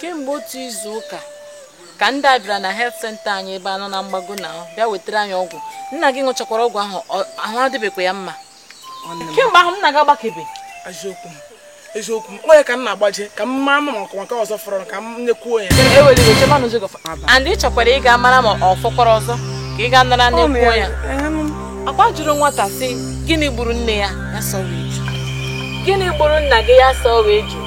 kemgbe otu izu ụka ka ndị a bịara na health centre anyị ebe anọ na mgbago na ahụ bịa wetara anyị ọgwụ nna gị ṅụchakwara ọgwụ ahụ ahụ adịbekwa ya mma kemgbe ahụ nna gị agbakebe eziokwu m eziokwu m ọ ya ka m na-agbaje ka m mara ma ọkụ maka ọzọ fọrọ ka m nyekwuo ya and ị chọkwara ịga mara ma ọ fọkwara ọzọ ka ị gaa nara nyekwuo ya ọ kwa a jụrụ nwata sị gịnị gburu nne ya ya sọrọ eju gịnị gburu nna gị ya sọrọ eju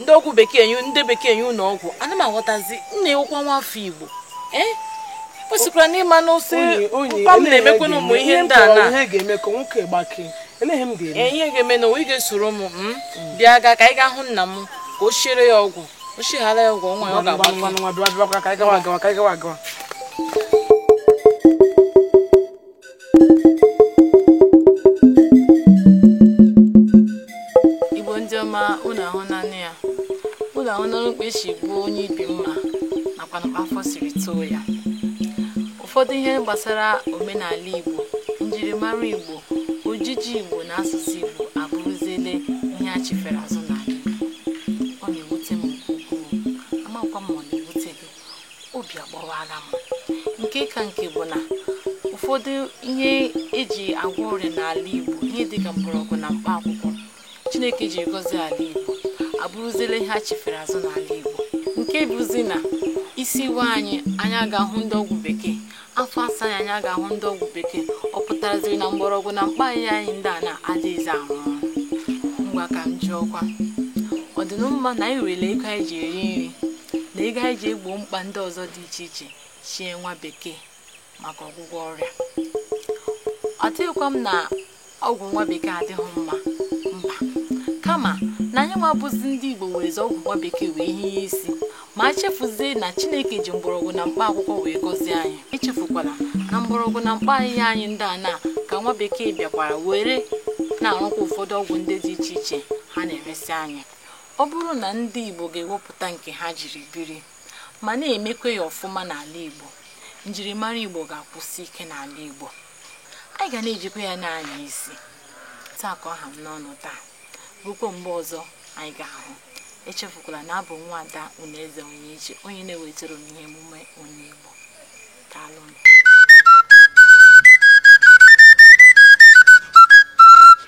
ndị ọgwụ bekee nye ndị bekee nye ụlọ ọgwụ ana m aghọtazi nna ị wụkwa nwa afọ igbo i kwesịkwara ịma na nsị mkpa m na-emekwa na ụmụ ihe ndị a na ihe ga-eme ka nwoke gbakee olee ihe m ga-eme ihe ga-eme na ị ga-esoro m hmm? bịa gaa ka anyị gaa hụ nna m ka o siere ya ọgwụ o sichaara ya ọgwụ nwa ya ọ ga-agba igbo ndị ọma unu ahụnanụ ya unu ahụnanụ mkpa e si gbuo onye ibi mma nakwa mkpa afọ siri too ya ụfọdụ ihe gbasara omenala igbo njirimara igbo ojiji igbo na asụsụ igbo abụrụziele ihe a chịfere azụ obi agbawala m nke ka nke bụ na ụfọdụ ihe e ji agwọ ọrịa n'ala Igbo ihe dịka mgbọrọgwụ na mkpa akwụkwọ Chineke ji gọzi ala Igbo abụrụziela ihe a chịfere azụ n'ala Igbo nke bụzi na isi waa anyị anyị agaa hụ ndị ọgwụ bekee afọ saa anyị anyị agaa hụ ndị ọgwụ bekee ọ pụtaraziri na mgbọrọgwụ na mkpa ahịhịa anyị ndị a na-adịghịzi ahụ ngwa ka m jụọkwa ọ dịnụ mma na anyị werele ego anyị ji eri nri na ego anyị ji egbo mkpa ndị ọzọ dị iche iche chie nwa bekee maka ọgwụgwọ ọrịa asịghịkwa m na ọgwụ nwa bekee adịghị mma mba kama na anyị nwa bụzi ndị igbo werezi ọgwụ nwa bekee wee hie isi ma chefuzie na chineke ji mgbọrọgwụ na mkpa akwụkwọ wee gọzie anyị echefukwala na mgbọrọgwụ na mkpa ahịhịa anyị ndị a na ka nwa bekee bịakwara were na-arụkwa ụfọdụ ọgwụ ndị dị iche iche ha na-eresị anyị ọ bụrụ na ndị igbo ga-ewepụta nke ha jiri biri ma na-emekwa ya ọfụma n'ala igbo njirimara igbo ga-akwụsi ike n'ala igbo anyị ga na-ejikwa ya na-anya isi sị ka ọ ha m n'ọnụ taa rukwa mgbe ọzọ anyị ga-ahụ echefukwala na abụ m nwa ada unu eze onye iche onye na-ewetara unu ihe emume onye Igbo daalụnụ